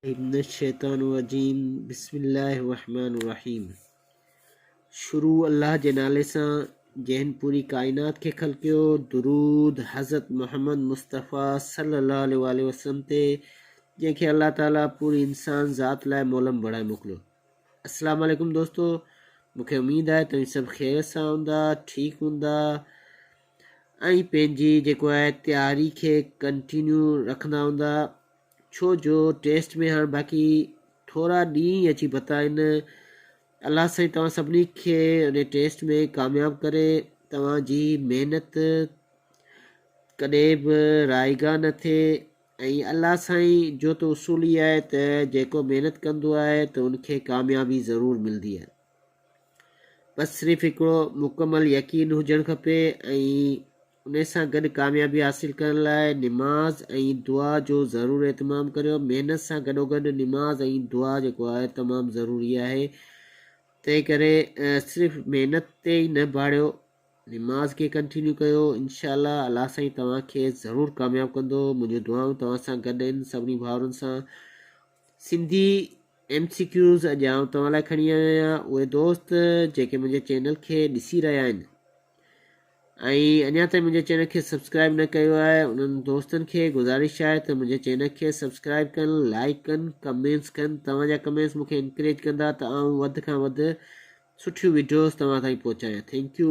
من الشيطان الرجيم بسم الله الرحمٰن الرحيم شروع الله جي نالي سان جنھن پوري ڪائنات کي خلقيو درود حضرت محمد مصطفٰي صلي الله عليه واٰله وسلم تي جنھن کي الله تعالي پوري انسان ذات لاء مولم بڻائي موڪليو السلام عليڪم دوستو مونکي اميد آهي توهين سڀ خيريت سان هوندا ٺيڪ هوندا ۽ پنهنجي جيڪو آهي تياري کي ڪنٽينيو رکندا هوندا ڇو جو ٽيسٽ ۾ هاڻ باقي ٿورا ڏينهن ئي اچي پتا آهن. الله سائين توهان سڀني کي ان ٽيسٽ ۾ ڪامياب ڪري. توهان جي محنت ڪڏهن به رائيگان نه ٿئي ۽ الله سائين جو ته اصول ئي آهي ته جيڪو محنت ڪندو آهي ته ان کي ڪاميابي ضرور ملندي آهي. بس صرف هڪڙو مڪمل يقين هجڻ کپي ۽ ان سان گڏ ڪاميابي حاصل ڪرڻ لاء نماز ۽ دعا جو ضرور اهتمام ڪريو. محنت سان گڏوگڏ نماز ۽ دعا جيڪو آهي تمام ضروري آهي. تنهنڪري صرف محنت تي ئي نه ڀاڙيو، نماز کي ڪنٽينيو ڪيو. انشاء الله الله سائين توهان کي ضرور ڪامياب ڪندو. منهنجون دعائون توهان سان گڏ آهن سڀني ڀائرن سان. سنڌي ايم سي ڪيوز اڄ آئون توهان لاء کڻي آيو آهيان اهي دوست جيڪي منهنجي چينل کي ڏسي رهيا آهن ۽ اڃا تائين منهنجي چينل کي سبسڪرائب نه ڪيو آهي انهن دوستن کي گذارش آهي ته منهنجي چينل کي سبسڪرائب ڪن لائڪ ڪن ڪمينس ڪن توهان جا ڪمينس مونکي انڪريج ڪندا ته آئون وڌ کان وڌ سٺيون ويڊيوز توهان تائين پهچايان ٿينڪ يو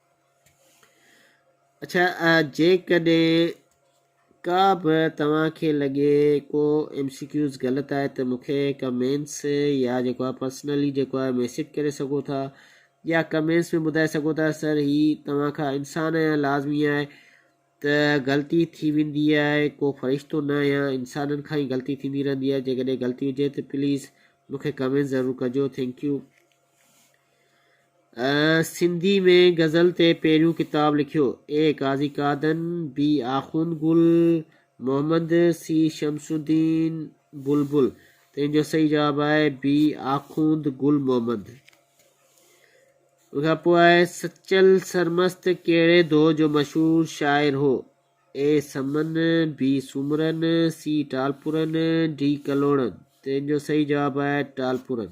اڇا جيڪڏهن ڪا به توهان کي لڳي ڪو ايم سي ڪيوز غلط آهي ته مون کي ڪمينس يا جيڪو آهي پرسنلي جيڪو آهي ميسج ڪري سگهو ٿا يا ڪمينس ۾ ٻڌائي سگهو ٿا سر هي توهان کان انسان آهيان لازمي آهي ته غلطي ٿي ويندي آهي ڪو فرشتو نه آهيان انسانن کان ئي غلطي ٿيندي رهندي آهي جيڪڏهن غلطي هجي ته پليز مون کي ڪمينس ضرور ڪجو ٿينڪ يو سنڌي ۾ غزل تي پهريون ڪتاب لکيو، اي قاضي قادن، بي آخوند گل، محمد، سي شمس الدين بلبل، تنهن جو صحيح جواب آهي بي آخوند گل محمد. ان کان پوء آهي سچل سرمست ڪهڙي دور جو مشهور شاعر هو، اي سمن، بي سومرن، سي ٽالپرن، ڊي ڪلهوڙن، تنهن جو صحيح جواب آهي ٽالپرن.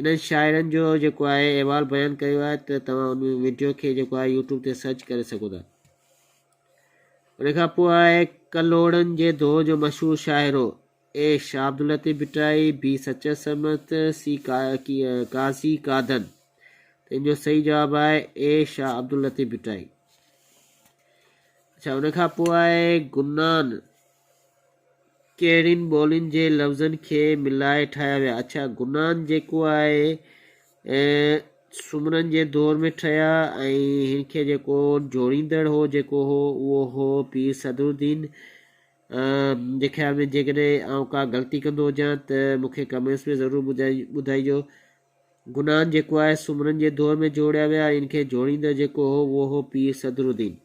انهن شاعرن جو جيڪو آهي احوال بيان ڪيو آهي ته توهان ان وڊيو کي جيڪو آهي يوٽيوب تي سرچ ڪري سگهو ٿا ان کان پوء آهي ڪلهوڙن جي دور جو مشهور شاعرو اي شاهه عبداللطيف ڀٽائي بي سچل سرمست سي قاضي قادن ته ان جو صحيح جواب آهي اي شاهه عبداللطيف ڀٽائي اڇا ان کان پوء آهي گنان ڪهڙين ٻولين جي لفظن کي ملائي ٺاهيا ويا اڇا گنان جيڪو آهي سومرن جي دور ۾ ٺهيا ۽ هن کي جيڪو جوڙيندڙ هو جيڪو هو اهو هو پير صدر الدين منهنجي خيال ۾ جيڪڏهن آئون ڪا غلطي ڪندو هجان ته مونکي ڪمينٽس ۾ ضرور ٻڌائي ٻڌائجو گنان جيڪو آهي سومرن جي دور ۾ جوڙيا ويا ان کي جوڙيندڙ جيڪو هو اهو هو پير صدر الدين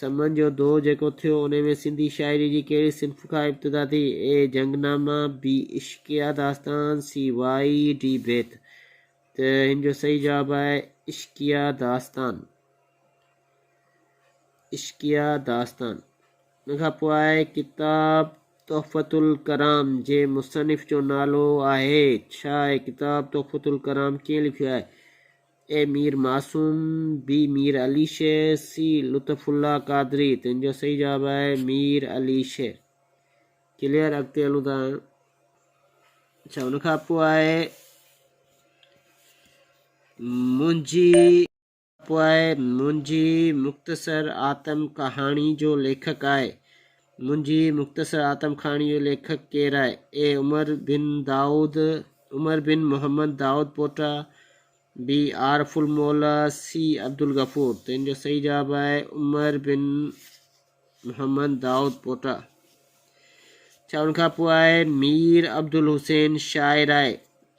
سمن جو دؤر جيڪو ٿيو، انهي ۾ سنڌي شاعريء جي ڪهڙي صنف کان ابتدا ٿي؟ اي جنگ نامه، بي عشقيه داستان، سي وائي ڊي بيت ته هن جو صحيح جواب آهي عشقيه داستان. عشقيه داستان. ان کان پوء آهي ڪتاب تحفة الڪرام جي مصنف جو نالو آهي ڇا؟ اي ڪتاب تحفة الڪرام ڪنهن لکيو آهي؟ اي مير معصوم، بي مير علي شير، سي لطف الله قادري، تنهن جو صحيح جواب آهي مير علي شير. ڪليئر اڳتي هلون ٿا هاڻي. اچھا ان کان پوء آهي منهنجي پوء آهي منهنجي مختصر آتم ڪهاڻي جو ليکڪ آهي منهنجي مختصر آتم ڪھاڻي جو ليکڪ ڪير آهي؟ اي عمر بن دائود عمر بن محمد دائود پوٽا، بي عارف الموليٰ، سي عبدالغفور تنهن جو صحيح جواب آهي عمر بن محمد دائود پوٽا. ڇا ان کان پوء آء مير عبدالحسين شاعر آء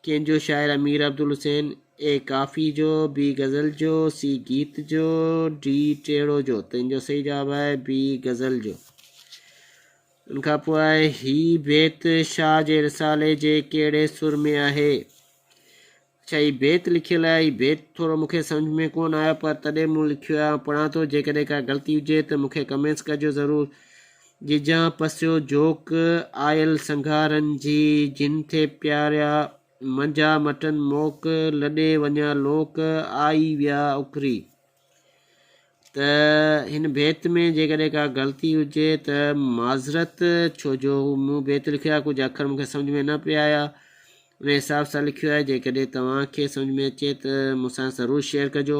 ڪنهن جو شاعر امير عبدالحسين، اي ڪافي جو، بي غزل جو، سي گيت جو، ڊي ٽيڙو جو. تنهن جو صحيح جواب آهي بي غزل جو. ان کان پوء آهي هي بيت شاهه جي رسالي جي ڪهڙي سر ۾ آهي؟ اچا هي بيت لکيل آهي هي بيت ٿورو مون کي سمجھ ۾ ڪون آيو پر تڏهن مون لکيو آهي پڙهان ٿو جيڪڏهن ڪا غلطي هجي ته مون کي ڪمينٽس ڪجو ضرور. جيجان پسيو جوڪ آيل سنگهارن جي، جن ٿي پياريا منجها مٽن موڪ، لڏي وڃا لوڪ، آئي ويا اکري. ته هن بيت ۾ جيڪڏهن ڪا غلطي هجي ته معذرت ڇو جو مون بيت لکيو آهي ڪجهه اکر مونکي سمجهه ۾ نه پيا آيا ان حساب سان لکيو آهي جيڪڏهن توهان کي سمجهه ۾ اچي ته مون سان ضرور شيئر ڪجو.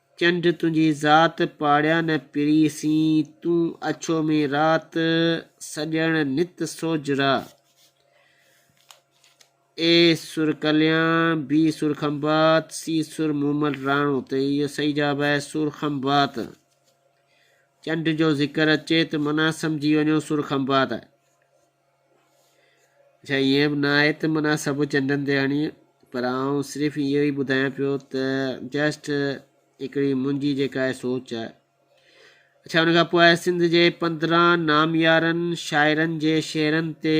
چنڊ تنهنجي ذات، پاڙيان نه پري سين، تون اڇو ۾ رات، سڄڻ نت سوج را. اي سر ڪليان، بي سر کنڀات، سي سر مومل راڻو تي اهو صحيح جواب آهي سر کنڀات. چنڊ جو ذڪر اچي ته معنيٰ سمجهي وڃو سر کنڀات آهي. ڇا ائين به نه آهي ته من سڀ چنڊن تي هڻي پر آئون صرف اهو ئي ٻڌايان پيو ته جسٽ هڪڙي منهنجي جيڪا آهي سوچ آهي اڇا ان کان پوء سنڌ جي پندرهن ناميارن شاعرن جي شعرن تي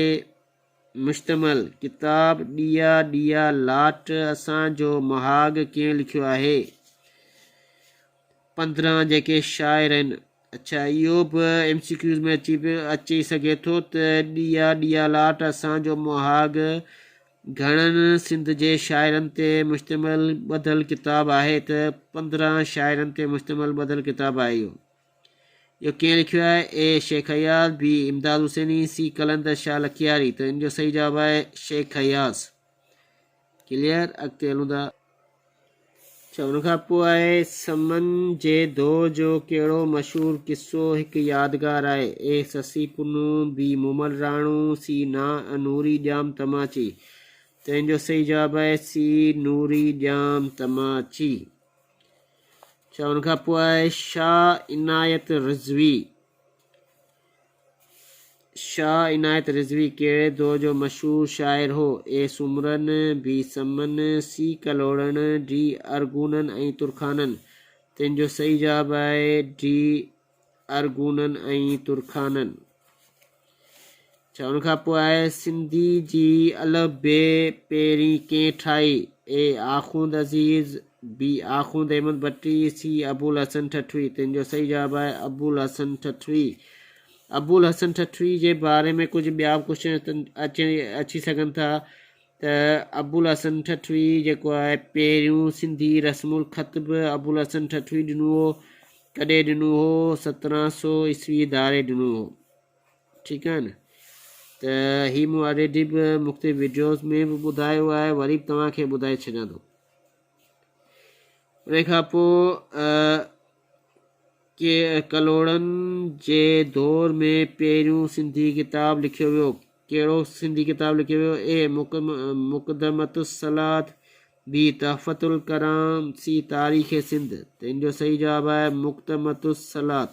مشتمل ڪتاب ڏيا ڏيا لاٽ اسان جو مهاڳ ڪنهن لکيو آهي پندرهن جيڪي شاعر آهن. اڇا اهو به ايم سي ڪيوز ۾ اچي اچي سگهي ٿو ته ڏيئا ڏيئا لاٽ اسان جو مهاڳ گهڻن سنڌ جي شاعرن تي مشتمل ٻڌل ڪتاب آهي ته پندرهن شاعرن تي مشتمل ٻڌل ڪتاب آهي اهو اهو ڪنهن لکيو آهي اي شيخ اياز بي امداد حسيني سي قلندر شاهه لکياري ته ان جو صحيح جواب آهي شيخ اياز ڪليئر اڳتي هلون ٿا اڇا ان کان پوء آهي سمن جي دو جو ڪهڙو مشهور قصو هڪ يادگار آهي اي سسي پنو بي مومل راڻو سي نا ء نوري ڄام تماچي تنهن جو صحيح جواب آهي سي نوري ڄام تماچي اڇا ان کان پوء آهي شاهه عنايت رضوي شاهه عنايت رضوي ڪهڙي دور جو مشهور شاعر هو؟ اي سومرن، بي سمن، سي ڪلهوڙن، ڊي ارغونن ۽ ترخانن؟ تنهن جو صحيح جواب آهي ڊي ارغونن ۽ ترخانن. ڇا ان کان پوء سنڌي جي الف بي پهرين ڪنهن ٺاهي؟ اي آخوند عزيز، بي آخوند احمد ڀٽي، سي ابوالحسن ٺٽوي، تن جو صحيح جواب آهي ابوالحسن ٺٽوي. ابوالحسن ٺٽوي جي باري ۾ ڪجهه ٻيا به ڪوشچن اچي اچي سگهن ٿا ته ابوالحسن ٺٽوي جيڪو آهي پهريون سنڌي رسم الخط به ابوالحسن ٺٽوي ڏنو هو ڪڏهن ڏنو هو سترهن سو عيسوي ڌاري ڏنو هو ٺيڪ آهي نه ته هي مون آلريڊي به مختلف ويڊيوز ۾ به ٻڌايو آهي وري به توهان کي ٻڌائي ڇڏيان ٿو انهيء کان پوء ڪلهوڙن جي دور ۾ پهريون سنڌي ڪتاب لکيو ويو. ڪهڙو سنڌي ڪتاب لکيو ويو؟ اي مقدمة الصلاة بي تحفة الڪرام سي تاريخ سنڌ. تنهن جو صحيح جواب آهي مقدمة الصلاة.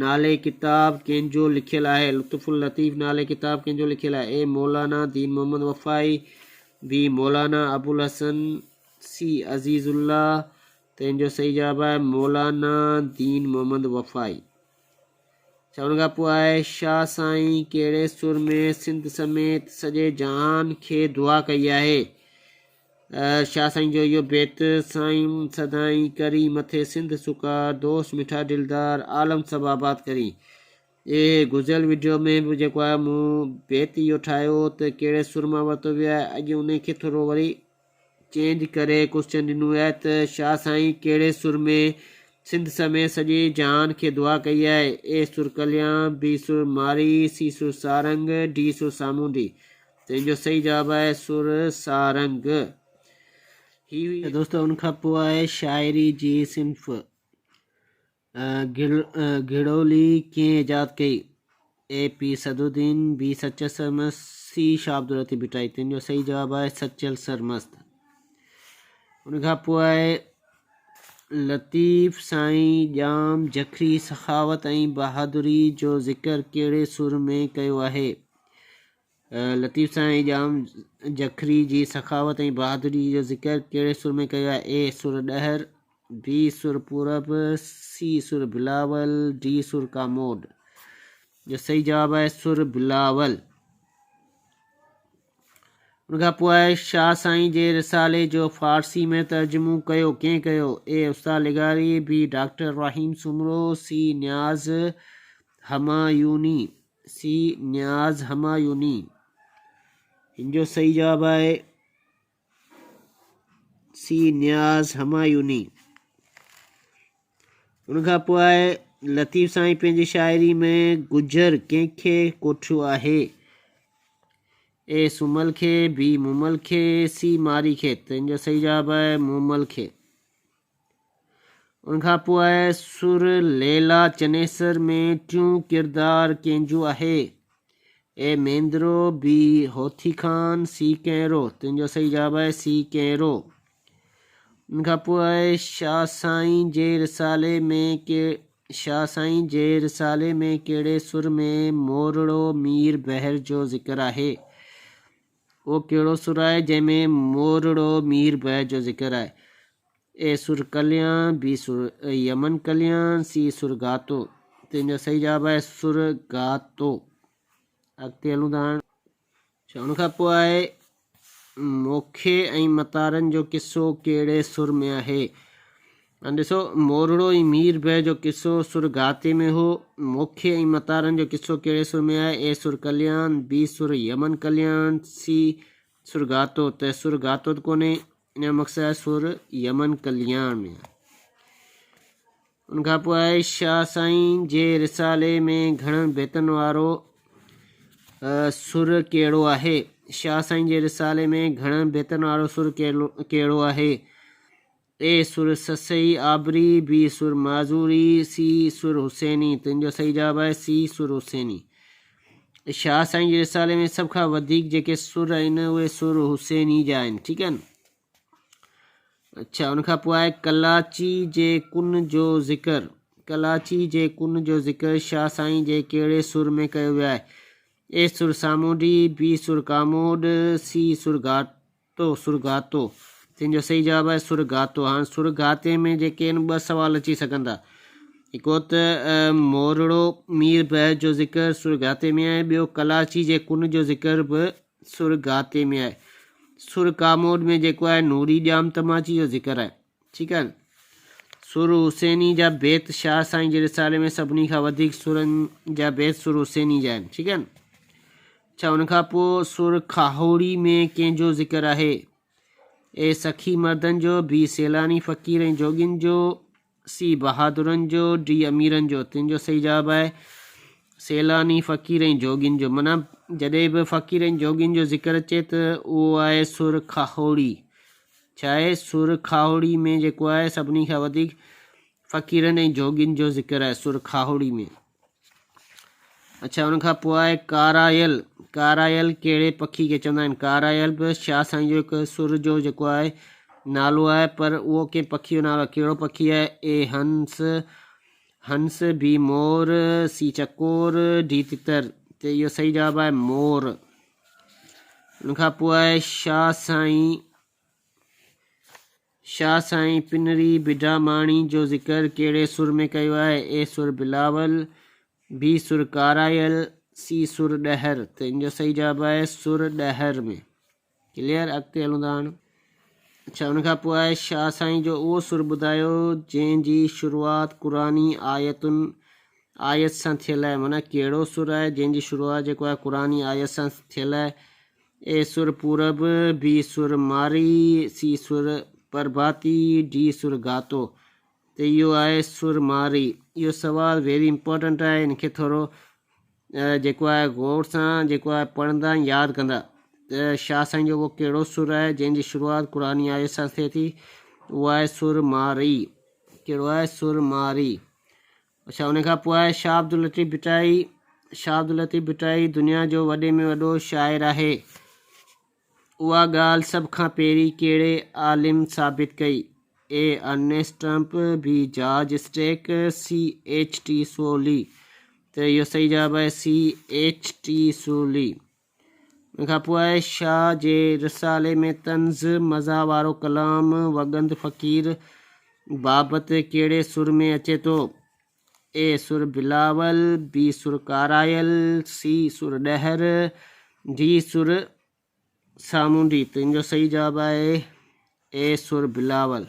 نالي ڪتاب ڪنهن جو لکيل آهي؟ لطف اللطيف نالي ڪتاب ڪنهن جو لکيل آهي؟ اي مولانا دين محمد وفائي بي مولانا ابوالحسن سي عزيز الله تنهن جو صحيح جواب آهي مولانا دين محمد وفائي ڇا ان کان پوء آهي شاهه سائين ڪهڙي سر ۾ سنڌ سميت سڄي جهان کي دعا ڪئي آهي شاهه سائين جو اهو بيت، سائين سدائين ڪرين مٿي سنڌ سڪا، دوست مٺا دلدار، عالم سڀ آباد ڪرين. اهي گذريل وڊيو ۾ به جيڪو آهي مون بيت اهو ٺاهيو هو ته ڪهڙي سر مان ورتو ويو آهي اڄ ان کي ٿورو وري چينج ڪري ڪوسچن ڏنو ويو آهي ته شاهه سائين ڪهڙي سر ۾ سنڌ سميت سڄي جهان کي دعا ڪئي آهي اي سر ڪليان بي سر مارئي سي سر سارنگ ڊي سر سامونڊي تنهن جو صحيح جواب آهي سر سارنگ. هي هئي ته دوستو ان کان پوء آهي شاعري جي صنف گهڙولي ڪنهن ايجاد ڪئي؟ اي پي سعدالدين، بي سچل سرمست، سي شاهه عبداللطيف ڀٽائي. تنهن جو صحيح جواب آهي سچل سرمست. ان کان پوء آهي لطيف سائين ڄام جکري سخاوت ۽ بهادري جو ذڪر ڪهڙي سر ۾ ڪيو آهي؟ لطيف سائين ڄام جکري جي سخاوت ۽ بهادري جو ذڪر ڪهڙي سر ۾ ڪيو آهي؟ A sir Dahar, B sir Purab, C sir Bilawal, D سر ڪاموڏ. جو صحيح جواب آهي سر بلاول. ان کان پوء شاهه سائين جي رسالي جو فارسي ۾ ترجمو ڪيو ڪنهن ڪيو؟ اي استاد لغاري، B doctor Ibrahim Soomro, C Niaz Humayuni. C Niaz Humayuni هن جو صحيح جواب آهي سي نياز همايوني ان کان پوء آهي لطيف سائين پنهنجي شاعري ۾ گجر ڪنهن کي ڪوٺيو آهي اي سمل کي بي مومل کي سي ماري کي تنهن جو صحيح جواب آهي مومل کي ان کان پوء سر ليلا چنيسر ۾ ٽيون ڪردار ڪنهن جو آهي؟ اي ميندرو، بي هوٿي خان، سي ڪينرو. تن جو صحيح جواب آهي سي ڪينرو. ان کان پوء شاهه سائين جي رسالي ۾ شاهه سائين جي رسالي ۾ ڪهڙي سر ۾ مورڙو مير بحر جو ذڪر آهي؟ اهو ڪهڙو سر آهي جنهن ۾ مورڙو مير بهه جو ذڪر آهي. اي سر ڪليان، بي سر يمن ڪليان، سي سر گاتو. تنهن جو صحيح جواب آهي سر گاتو. اڳتي هلون ٿا هاڻ. اڇا ان کان پوء آهي موکي ۽ متارن جو قصو ڪهڙي سر ۾ آهي؟ هاڻي ڏسو، مورڙو ۽ مير بيه جو قصو سر گهاتي ۾ هو. موکي ۽ متارن جو قصو ڪهڙي سر ۾ آهي؟ اي سر ڪليان، بي سر يمن ڪليان، سي سر گهاتو ته سر گهاتو ته ڪونهي، ان جو مقصد آهي سر يمن ڪليان ۾ آهي. ان کان پوء آهي شاهه سائين جي رسالي ۾ گهڻن بيتن وارو سر ڪهڙو آهي؟ شاهه سائين جي رسالي ۾ گهڻن بيتن وارو سر ڪهڙو آهي؟ اي سر سسئي آبري، بي سر معذوري، سي سر حسيني، تن جو صحيح جواب آهي سي سر حسيني. شاهه سائين جي رسالي ۾ سڀ کان وڌيڪ جيڪي سر آهن اهي سر حسيني جا آهن ٺيڪ آهن. اڇا ان کان پوء آهي ڪلاچي جي ڪن جو ذڪر ڪلاچي جي ڪن جو ذڪر شاهه سائين جي ڪهڙي سر ۾ ڪيو ويو آهي اي سر سامونڊي بي سر ڪاموڏ سي سر گهاٽ تو، سرگاتو، تنهن جو صحيح جواب آهي سرگاتو. هاڻ سرگاتي ۾ جيڪي آهن ٻه سوال اچي سگهن ٿا. هڪڙو ته مورڙو مير بحر جو ذڪر سرگاتي ۾ آهي، ٻيو ڪلاچي جي ڪن جو ذڪر به سرگاتي ۾ آهي. سر ڪاموڏ ۾ جيڪو آهي نوري ڄام تماچي جو ذڪر آهي. ٺيڪ آهي نه. سر حسيني جا بيت شاهه سائين جي رسالي ۾ سڀني کان وڌيڪ سرن جا بيت سر حسيني جا آهن. ٺيڪ آهي نه. ڇا ان کان پوء سر کاهوڙي ۾ ڪنهن جو ذڪر آهي؟ اي سخي مردن جو، بي سيلاني فقير ۽ جوڳين جو، سي بهادرن جو، ڊي اميرن جو، تن جو صحيح جواب آهي، سيلاني فقير ۽ جوڳين جو. معنيٰ، جڏهن به فقير ۽ جوڳين جو ذڪر اچي ته اهو آهي سر کاهوڙي. ڇا آهي؟ سر کاهوڙي ۾ جيڪو آهي سڀني کان وڌيڪ فقيرن ۽ جوڳين جو ذڪر آهي سر کاهوڙي ۾. اڇا ان کان پوء آهي ڪارايل ڪارايل ڪهڙي پکي کي چوندا آهن ڪارايل به شاهه سائين جو هڪ سر جو جيڪو آهي نالو آهي پر اهو ڪنهن پکي جو نالو ڪهڙو پکي آهي اي هنس هنس بي مور سي چڪور ڊي تتر ته اهو صحيح جواب آهي مور ان کان پوء آهي شاهه سائين شاهه سائين پنري بڊاماڻي جو ذڪر ڪهڙي سر ۾ ڪيو آهي؟ اي سر بلاول، بي سر ڪارايل، سي سر ڏهر ته ان جو صحيح جواب آهي سر ڏهر ۾. ڪليئر اڳتي هلون ٿا هاڻ. اڇا ان کان پوء شاهه سائين جو اهو سر ٻڌايو جنهن جي شروعات قرآني آيتن آيت سان ٿيل آهي معنيٰ ڪهڙو سر آهي جنهن جي شروعات جيڪو آهي قرآني آيت سان ٿيل آهي اي سر پورب، بي سر مارئي، سي سر پرڀاتي، ڊي سر گاتو ته اهو آهي سر مارئي. اهو سوال ويري امپورٽنٽ آهي ان کي ٿورو جيڪو آهي غور سان جيڪو آهي پڙهندا ۽ ياد ڪندا ته شاهه سائين جو اهو ڪهڙو سر آهي جنهن جي شروعات قرآني آيت سان ٿئي ٿي اهو آهي سر مارئي ڪهڙو آهي سر مارئي اڇا ان کان پوء آهي شاهه عبداللطيف ڀٽائي، شاهه عبداللطيف ڀٽائي دنيا جو وڏي ۾ وڏو شاعر آهي. اها ڳالهه سڀ کان پهرين ڪهڙي عالم ثابت ڪئي؟ A Ernest Trump, B George Stack, C H T Sorley. ته اهو صحيح جواب آهي سي ايڇ ٽي سولي. ان کان پوء شاهه جي رسالي ۾ طنز، مزاح وارو ڪلام وڳند فقير بابت ڪهڙي سر ۾ اچي ٿو؟ اي سر بلاول، بي سر ڪارايل، سي سر ڏهر، ڊي سر سامونڊي. تنهنجو صحيح جواب آهي. اي سر بلاول!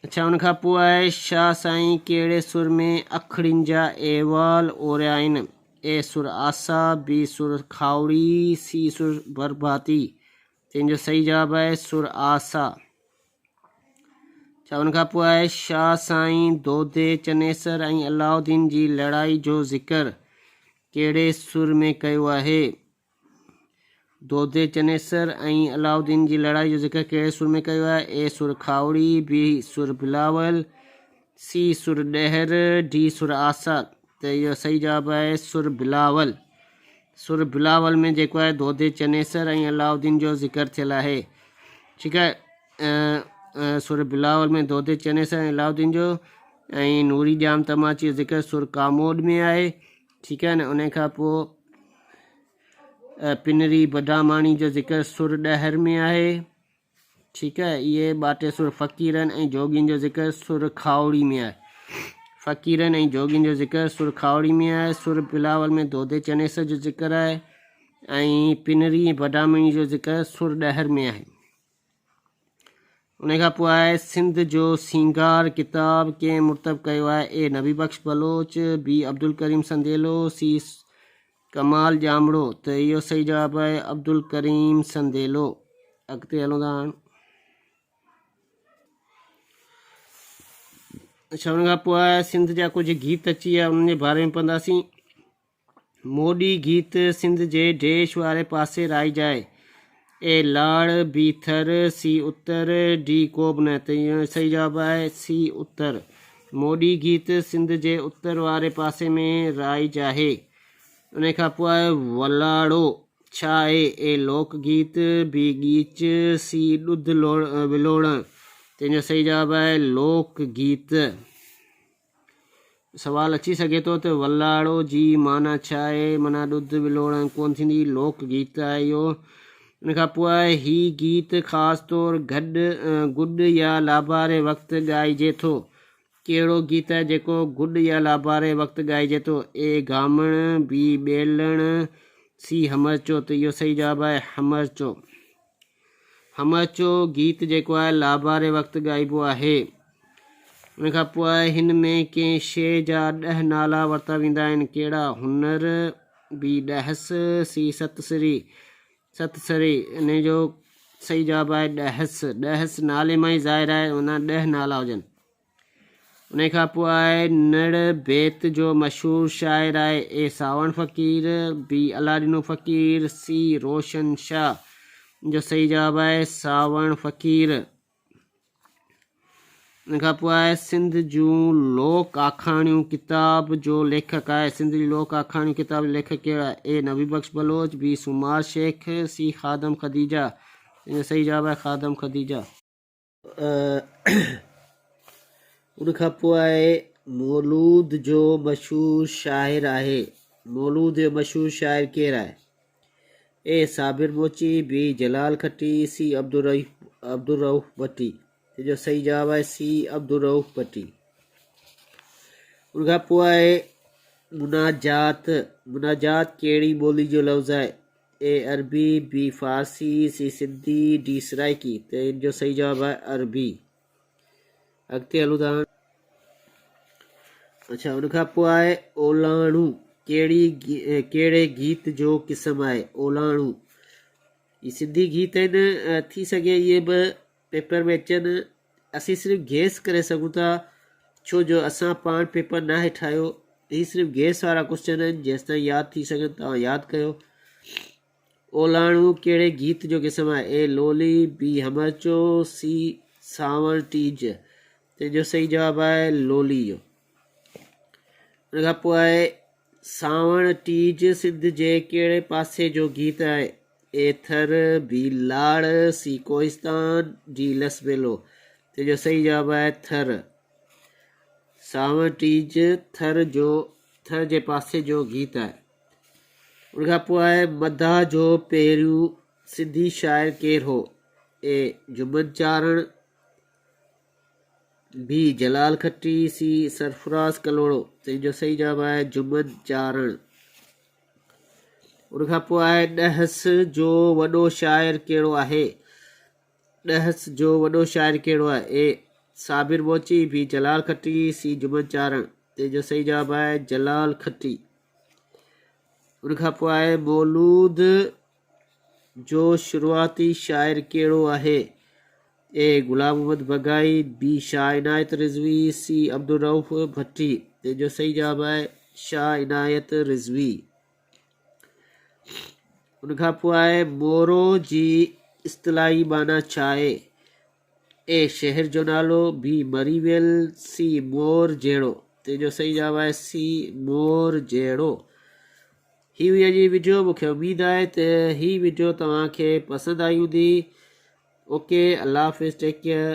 اڇا ان کان پوء شاهه سائين ڪهڙي سر ۾ اکڙين جا احوال اوريائين، اي سر آسا، بي سر کاهوڙي، سي سر برباتي، تنهن جو صحيح جواب آهي سر آسا. اڇا ان کان پوء شاهه سائين دودي، چنيسر ۽ علاؤالدين جي لڙائي جو ذڪر ڪهڙي سر ۾ ڪيو آهي؟ دودي چنيسر ۽ علاؤالدين جي لڙائي جو ذڪر ڪهڙي سر ۾ ڪيو آهي؟ A Sur Khahori, B Sur Bilawal, C Sur Dahar, D Sur Asa ته اهو صحيح جواب آهي سر بلاول. سر بلاول ۾ جيڪو آهي دودي چنيسر ۽ علاؤالدين جو ذڪر ٿيل آهي. ٺيڪ آهي سر بلاول ۾ دودي چنيسر ۽ علاؤالدين جو ۽ نوري ڄام تماچي جو ذڪر سر ڪاموڏ ۾ آهي. ٺيڪ آهي نه انهي کان پوء پنري بداماڻي جو ذڪر سر ڏهر ۾ آهي ٺيڪ آهي اهي ٻاٽي سر فقيرن ۽ جوڳين جو ذڪر سر کاوڙي ۾ آهي فقيرن ۽ جوڳين جو ذڪر سر کاوڙي ۾ آهي سر بلاول ۾ دودي چنيس جو ذڪر آهي ۽ پنري بداماڻي جو ذڪر سر ڏهر ۾ آهي انهيء کان پوء آء سنڌ جو سينگار ڪتاب ڪنهن مرتب ڪيو آهي؟ اي نبي بخش بلوچ، بي عبدالڪريم سنديلو، سي ڪمال ڄامڙو ته اهو صحيح جواب آهي عبدالڪريم سنديلو. اڳتي هلون ٿا هاڻ. اڇا ان کان پوء سنڌ جا ڪجهه گيت اچي ويا انهن جي باري ۾ پڙهنداسين. موڏي گيت سنڌ جي ڊيش واري پاسي رائجائي اي لاڙ بي ٿر سي اتر ڊي ڪوب نه ته صحيح جواب آهي سي اتر موڏي گيت سنڌ جي اتر واري پاسي ۾ رائجاهي ان کان پوء آهي ولاڙو ڇا آهي اي لوڪ گيت بي ڳيچ سي ڏڌ ولوڙڻ تنهنجو صحيح جواب آهي لوڪ گيت سوال اچي سگهي ٿو ته ولاڙو جي معنيٰ ڇا آهي؟ معنيٰ ڏڌ ولوڙڻ ڪونه ٿيندي. لوڪ گيت آهي اهو. ان کان پوء هي گيت خاص طور گڏ، گڏ يا لاباري وقت ڳائجي ٿو. ڪهڙو گيت آهي جيڪو گڏ يا لاباري وقت ڳائجي ٿو؟ اي گامڻ، بي ٻيلڻ، سي همرچو ته اهو صحيح جواب آهي همرچو. هم اچو گيت جيڪو آهي لاباري وقت ڳائبو آهي. ان کان پوء هن ۾ ڪنهن شيء جا ڏهه نالا ورتا ويندا آهن، ڪهڙا، هنر، بي ڏهس، سي ست سري، ست سري، ان جو صحيح جواب آهي ڏهس، ڏهس نالي مان ئي ظاهر آهي، معنيٰ ڏهه نالا هجن. انهيء کان پوء آء نڙ بيت جو مشهور شاعر آء اي ساوڻ فقير، بي الله ڏنو فقير، سي روشن شاهه جو صحيح جواب آء ساوڻ فقير. انهيء کان پوء آء سنڌ جون لوڪ آکاڻيون ڪتاب جو ليکڪ آء سنڌ جون لوڪ آکاڻيون ڪتاب جو ليکڪ ڪير آء اي نبي بخش بلوچ، بي سومار شيخ، سي خادم خديجه جن جو صحيح جواب آء خادم خديجه. ان کان پوء مولود جو مشهور شاعر آهي مولود جو مشهور شاعر ڪير آهي اي صابر موچي بي جلال کٽي سي عبدالرحيف عبدالرحوف ڀٽي تنهن جو صحيح جواب آهي سي عبدالرحوف ڀٽي ان کان پوء آهي مناجات مناجات ڪهڙي ٻولي جو لفظ آهي A Arabi, B Farsi, C Sindhi, D Saraiki ته ان جو صحيح جواب آهي عربي. اڳتي هلون ٿا هاڻ. اڇا ان کان پوء آهي اولاڻو ڪهڙي ڪهڙي گيت جو قسم آهي اولاڻو هي سنڌي گيت آهن ٿي سگهي اهي به پيپر ۾ اچن، اسين صرف گيس ڪري سگهون ٿا ڇو جو اسان پاڻ پيپر ناهي ٺاهيو. هي صرف گيس وارا ڪوسچن آهن جيستائين ياد ٿي سگهن توهان ياد ڪيو. اولاڻو ڪهڙي گيت جو قسم آهي؟ اي لولي، بي همرچو، سي سانوڻ ٽيج. تنهن جو صحيح جواب آهي لولي جو. ان کان پوء آهي سانوڻ ٽيج سنڌ جي ڪهڙي پاسي جو گيت آهي؟ A Thar, B Lar, C Kohistan, D Las Bela. تنهن جو صحيح جواب آهي ٿر. سانوڻ ٽيج ٿر جو ٿر جي پاسي جو گيت آهي. ان کان پوء آهي مداح جو پهريون سنڌي شاعر ڪير هو؟ اي جمن چارڻ، بي جلال کٽي، سي سرفراز ڪلهوڙو، تنهن جو صحيح جواب آهي جمن چارڻ. ان کان پوء آهي ڏهس جو وڏو شاعر ڪهڙو آهي؟ ڏهس جو وڏو شاعر ڪهڙو آهي؟ اي صابر موچي، بي جلال کٽي، سي جمن چارڻ. تنهن جو صحيح جواب آهي جلال کٽي. ان کان پوء آهي مولود جو شروعاتي شاعر ڪهڙو آهي؟ اي غلام محمد بگائي، بي شاهه عنايت رضوي، سي عبدالرئوف ڀٽي. تنهن جو صحيح جواب آهي شاهه عنايت رضوي. ان کان پوء آهي مورو جي اصطلاحي معنيٰ ڇا آهي؟ اي شهر جو نالو بي مري ويل سي مور جهڙو تنهن جو صحيح جواب آهي سي مور جهڙو هي هئي اڄ جي ويڊيو مونکي اميد آهي ته هي ويڊيو توهان کي پسند آئي هوندي اوڪي الله حافظ ٽيڪ ڪيئر